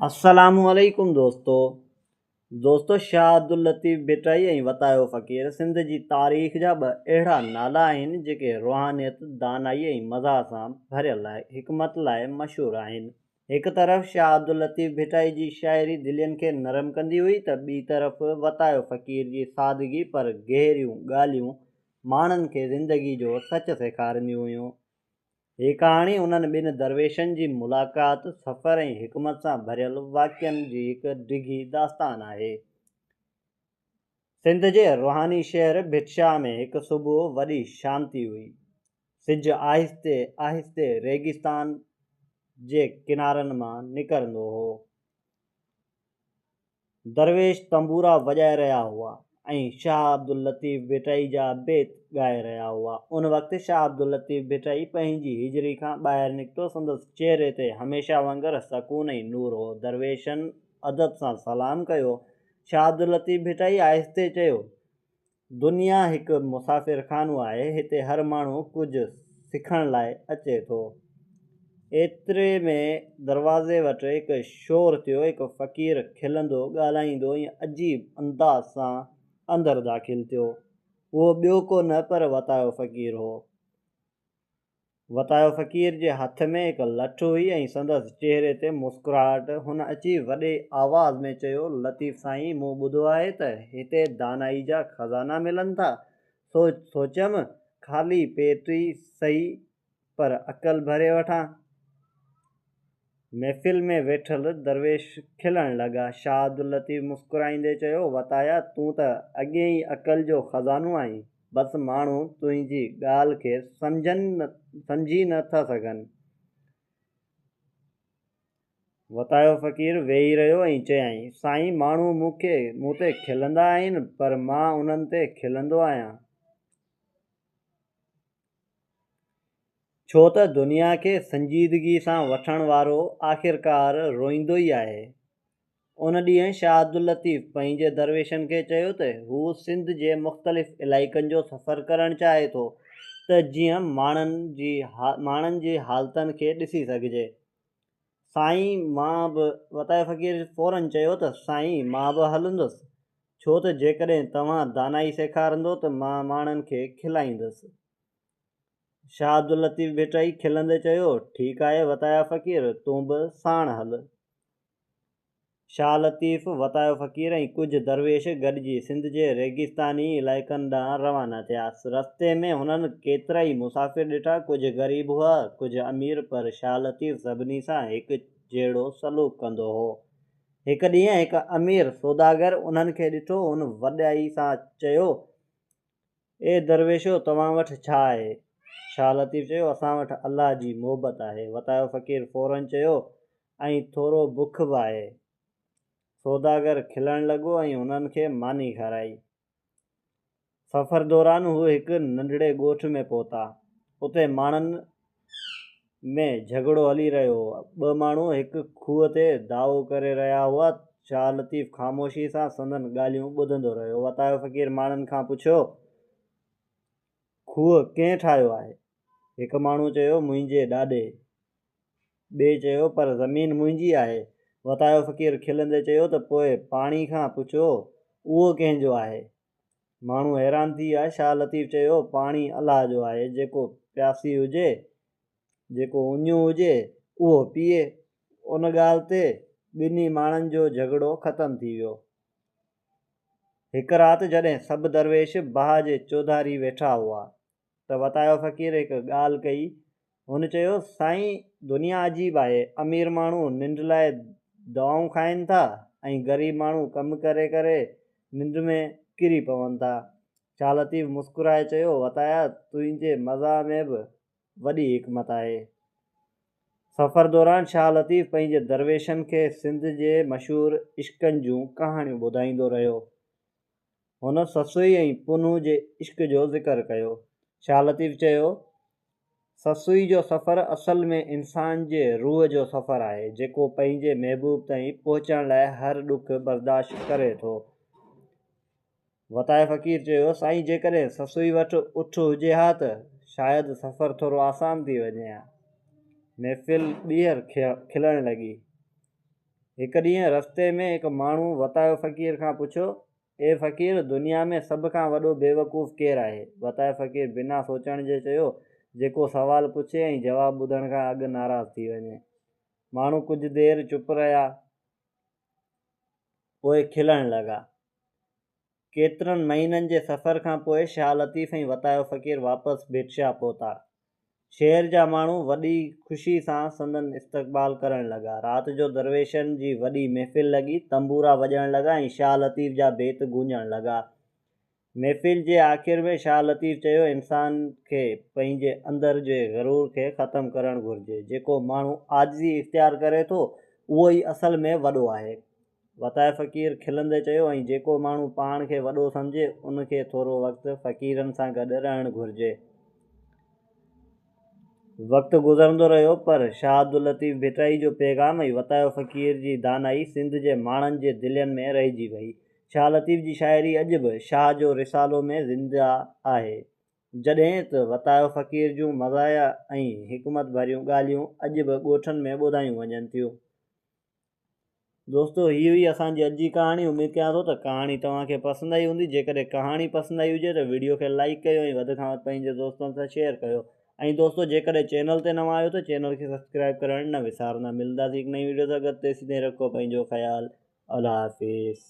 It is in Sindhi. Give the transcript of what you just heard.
السلام عليڪم دوستو دوستو شاهه عبداللطيف ڀٽائي ۽ وتايو فقير سنڌ جي تاريخ جا ٻه اهڙا نالا آهن جيڪي روحانيت دانائي ۽ مزاح سان ڀريل حڪمت لاء مشهور آهن هڪ طرف شاهه عبداللطيف ڀٽائي جي شاعري دلين کي نرم ڪندي هئي ته ٻي طرف وتايو فقير جي سادگي پر گهريون ڳالهيون ماڻهن کي زندگي جو سچ سيکارينديون هيون هي ڪهاڻي انهن ٻن درويشن جي ملاقات، سفر ۽ حڪمت سان ڀريل واقعن جي هڪ ڊگهي داستان آهي. سنڌ جي روحاني شهر ڀٽشاهه ۾ هڪ صبح وڏي شانتي هئي. سج آهستي آهستي ريگستان جي ڪنارن مان نڪرندو هو. درويش تنبورا وڄائي رهيا هئا ۽ شاهه عبداللطيف ڀٽائي جا بيت ڳائي رهيا هئا. ان وقت شاهه عبداللطيف ڀٽائي پنهنجي هجري کان ٻاهر نڪتو، سندس چهري تي هميشه وانگر سڪون ۽ نور هو. درويشن ادب سان سلام ڪيو. شاهه عبداللطيف ڀٽائي آهستي چيو، دنيا هڪ مسافر خانو آهي هتي هر ماڻهو ڪجهه سکڻ لاء اچي ٿو. ايتري ۾ دروازي وٽ هڪ شور ٿيو هڪ فقير کلندو ڳالهائيندو ۽ عجيب انداز سان اندر داخل ٿيو اهو ٻيو ڪو نه پر وتايو فقير هو. وتايو فقير جي هٿ ۾ هڪ لٺ هئي ۽ سندس چهري تي مسڪراهٽ. هن اچي وڏي آواز ۾ چيو، لطيف سائين مون ٻڌو آهي ته هتي دانائي جا خزانا ملن ٿا. سو سوچيم خالي پيٽ ئي سهي پر عقل ڀري وٺان. محفل ۾ ويٺل درويش کلڻ لڳا. شاهه عبداللطيف مسڪرائيندي چيو، وتايا تون ته اڳي ئي عقل جو خزانو آهين. بس ماڻهو تنهنجي ڳالهه کي سمجهن سمجهي نه ٿا سگهن. وتايو فقير ويهي رهيو ۽ چيائين، سائين ماڻهو مون کي مون تي کلندا آهن پر مان انهن تي کلندو آهيان. ڇو ته دنيا کي سنجيدگي سان وٺڻ وارو آخرڪار روئيندو ئي آهي. ان ڏينهن شاهه عبداللطيف پنهنجي درويشن کي چيو ته هو سنڌ جي مختلف علائقن جو سفر ڪرڻ چاهي ٿو ته جيئن ماڻهن جي ماڻهن جي حالتن کي ڏسي سگهجي. سائين مان به وتايي فقير فورن چيو ته سائين مان به هلندس ڇو ته جيڪڏهن توهان دانائي سيکارندو ته مان ماڻهن کي کلائيندس. شاهه عبداللطيف ڀٽائي کلندي چيو ٺيڪ آهي وتايا فقير تون به ساڻ هل. شاهه لطيف، وتايو فقير ۽ ڪجهه درويش گڏجي سنڌ جي ريگستاني علائقن ڏانهن روانا ٿيا. رستي ۾ هنن ڪيترائي مسافر ڏٺا، ڪجهه غريب هئا، ڪجهه امير پر شاهه لطيف سڀني سان هڪ جهڙو سلوڪ ڪندو هو. هڪ ڏينهن هڪ امير سوداگر انهن کي ڏٺو، هن وڏائي سان چيو، اي درويشو توهان وٽ ڇا آهي؟ شاهه لطيف چيو، اسان وٽ الله جي محبت آهي. وتايو فقير فوراً چيو، ۽ ٿورو بک به آهي. سوداگر کلڻ لڳو ۽ هنن کي ماني کارائي. سفر دوران هو هڪ ننڍڙي ڳوٺ ۾ پهتا. اتي ماڻهن ۾ جهڳڙو هلي رهيو هو. ٻه ماڻهو هڪ کوهه تي دعوو ڪري رهيا هئا. شاهه لطيف خاموشي سان سندن ڳالهيون ٻڌندو رهيو. وتايو فقير ماڻهن کان پڇيو، کوهه ڪنهن ٺاهيو آهي؟ هڪ ماڻهو چيو، منهنجي ڏاڏي. ٻئي چيو، پر زمين منهنجي آهي. وتايو فقير کلندي چيو ته پوء پاڻي کان پڇو اهو ڪنهن جو آهي؟ ماڻهو حيران ٿي ويا. شاهه لطيف چيو، پاڻي الله جو آهي، جيڪو پياسي هجي، جيڪو اڃيون هجي، اهو پيئي. ان ڳالهه تي ٻنهي ماڻهن جو جهڳڙو ختم ٿي ويو. هڪ رات جڏهن سڀ درويش باهه جي چوڌاري ويٺا هئا، ته وتايو فقير هڪ ڳالهه ڪئي. هن چيو، سائين دنيا عجيب آهي، امير ماڻهو ننڊ لاء دوائون کائين ٿا ۽ غريب ماڻهو ڪم ڪري ڪري ننڊ ۾ ڪري پون ٿا. شاهه لطيف مسڪرائي چيو، وتايا تنهنجي مزاح ۾ به وڏي حڪمت آهي. سفر دوران شاهه لطيف پنهنجي درويشن کي سنڌ جي مشهور عشقن جون ڪهاڻيون ٻڌائيندو رهيو. هن سسئي ۽ پنهون جي عشق جو ذڪر ڪيو. شاهه لطيف چيو، سسئي جو سفر اصل ۾ انسان جي روح جو سفر آهي، جيڪو پنهنجي محبوب تائين پهچڻ لاء هر ڏک برداشت ڪري ٿو. وتايي فقير چيو، سائين جيڪڏهن سسئي وٽ اٺ هجي ها ته شايد سفر ٿورو آسان ٿي وڃي ها. محفل ٻيهر کلڻ لڳي. هڪ ڏينهن رستي ۾ هڪ ماڻهو وتايو فقير کان پڇيو، اي فقير! دنيا ۾ سڀ کان وڏو بيوقوف ڪير آهي؟ وتايو فقير بنا سوچڻ جي چيو، جيڪو سوال پڇي ۽ جواب ٻڌڻ کان اڳ ناراض ٿي وڃي. ماڻهو ڪجهه دير چپ رهيا، پوء کلڻ لڳا. ڪيترن مهينن جي سفر کان پوء شاهه لطيف ۽ وتايو فقير واپس ڀٽشاه پهتا. شهر جا ماڻهو وڏي خوشي سان سندن استقبال ڪرڻ لڳا. رات جو درويشن جي وڏي محفل لڳي، تنبورا وڄڻ لڳا ۽ شاهه لطيف جا بيت گونجڻ لڳا. محفل جي آخر ۾ شاهه لطيف چيو، انسان کي پنهنجي اندر جي غرور کي ختم ڪرڻ گهرجي. جيڪو ماڻهو عاجزي اختيار ڪري ٿو، اهو ئي اصل ۾ وڏو آهي. وتايي فقير کلندي چيو، ۽ جيڪو ماڻهو پاڻ کي وڏو سمجهي، ان کي ٿورو وقت فقيرن سان گڏ رهڻ گهرجي. وقت گذرندو رهيو، پر شاهه عبداللطيف ڀٽائي جو پيغام ۽ وتايو فقير جي دانائي سنڌ جي ماڻهن جي دلين ۾ رهجي وئي. شاهه لطيف جي شاعري اڄ به شاهه جو رسالو ۾ زنده آهي، جڏهن ته وتايو فقير جون مزاحيه ۽ حڪمت ڀريون ڳالهيون اڄ به ڳوٺن ۾ ٻڌايون وڃن ٿيون. دوستو هي هئي اسان جي اڄ جي ڪهاڻي اميد ڪيان ٿو ته ڪهاڻي توهان کي پسند آئي هوندي جيڪڏهن ڪهاڻي پسند آئي هجي ته ويڊيو کي لائيڪ ڪيو ۽ وڌ کان وڌ پنهنجي دوستن سان شيئر ڪيو ۽ دوستو جيڪڏهن چينل تي نوان آهيو ته چينل کي سبسڪرائيب ڪرڻ نه وسارندا ملنداسين هڪ نئين ويڊيو سان گڏ تيسين تائين رکو پنهنجو خيال الله حافظ.